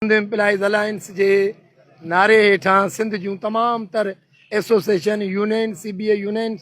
Sindh employees alliance جي نعري هيٺان سنڌ جون تمام تر association union C B A union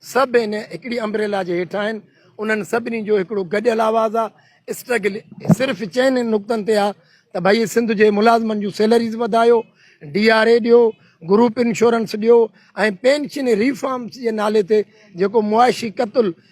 سڀ ان هڪڙي امبريلا جي هيٺان آهن انهن سڀني جو هڪڙو گڏيل آواز آهي اسٽرگل صرف چئن نقطن تي آ ته بھائی سندھ جي ملازمن جون سيلريز وڌايو ڊي آر اي ڏيو گروپ انشورنس ڏيو ۽ پينشن ريفارمس جي نالي تي جيڪو معاشي قتل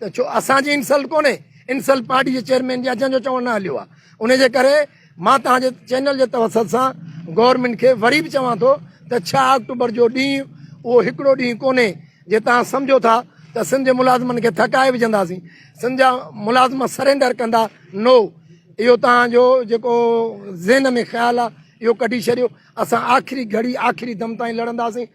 ته ڇو اسان جي انسلٽ ڪونهي انسلٽ پارٽي جي چيئرمين جي آهي جنهن جو چوڻ نه هليو آهي ان جي ڪري مان توهان جي چينل جي توسط سان گورنمينٽ کي وري به چوان ٿو ته ڇهه آڪٽوبر جو ڏينهن اهو هڪڙو ڏينهن ڪونهي جي توهان سمجهو ٿا ته سنڌ جي ملازمن کي ٿڪائي وجهنداسين سنڌ جا ملازم سرينڊر ڪندا نو اهو توهان جو جيڪو ذهن ۾ خيال آهي اهو ڪڍي ڇڏيو اسان آخري گهڙي آخري دم تائين لڙنداسين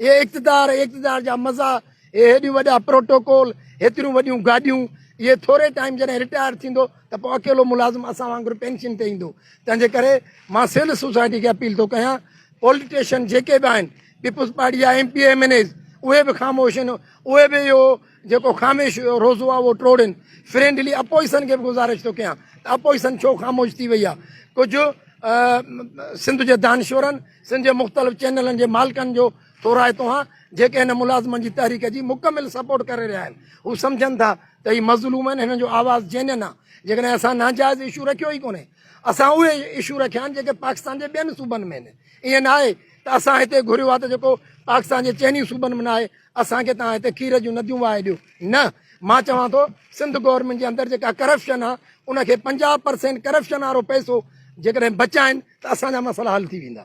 اهي اقتدار، اهي اقتدار جا مزا، اهي هيڏيون وڏا پروٽوڪول، هيتريون وڏيون گاڏيون، اهي ٿوري ٽائيم جڏهن رٽائر ٿيندو ته پوء اڪيلو ملازم اسان وانگر پينشن تي ايندو. تنهن جي ڪري مان سول سوسائٽي کي اپيل ٿو ڪيان پولٽيشن جيڪي به آهن پيپلز پارٽي جا M P M N As اهي به خاموش آهن اهي به اهو جيڪو خاموش روزو آهي اهو ٽوڙين فرينڊلي اپوزيشن کي به گذارش ٿو ڪيان ته اپوزيشن ڇو خاموش ٿي وئي آهي ڪجهه سنڌ جي دانشورن سنڌ جي مختلف چينلن جي مالڪن جو ٿورائتو آهيان جيڪي هن ملازمن جي تحريڪ جي مڪمل سپورٽ ڪري رهيا آهن هو سمجهن ٿا ته هي مظلوم آهن هنن جو آواز جينين آهي جيڪڏهن اسان ناجائز اشو رکيو ئي ڪونهي اسان اهي اشو رکيا آهن جيڪي پاڪستان جي ٻين صوبن ۾ آهن ائين ناهي ته اسان هتي گهريو آهي ته جيڪو پاڪستان جي چئني صوبن ۾ ناهي اسان کي توهان هتي کير جون نديون وهائي ڏيو نه مان چوان ٿو سنڌ گورنمينٽ جي اندر جيڪا ڪرپشن آ ان کي پنجاهه پرسينٽ ڪرپشن وارو پئسو جيڪڏهن بچائين ته اسان جا مسئلا حل ٿي ويندا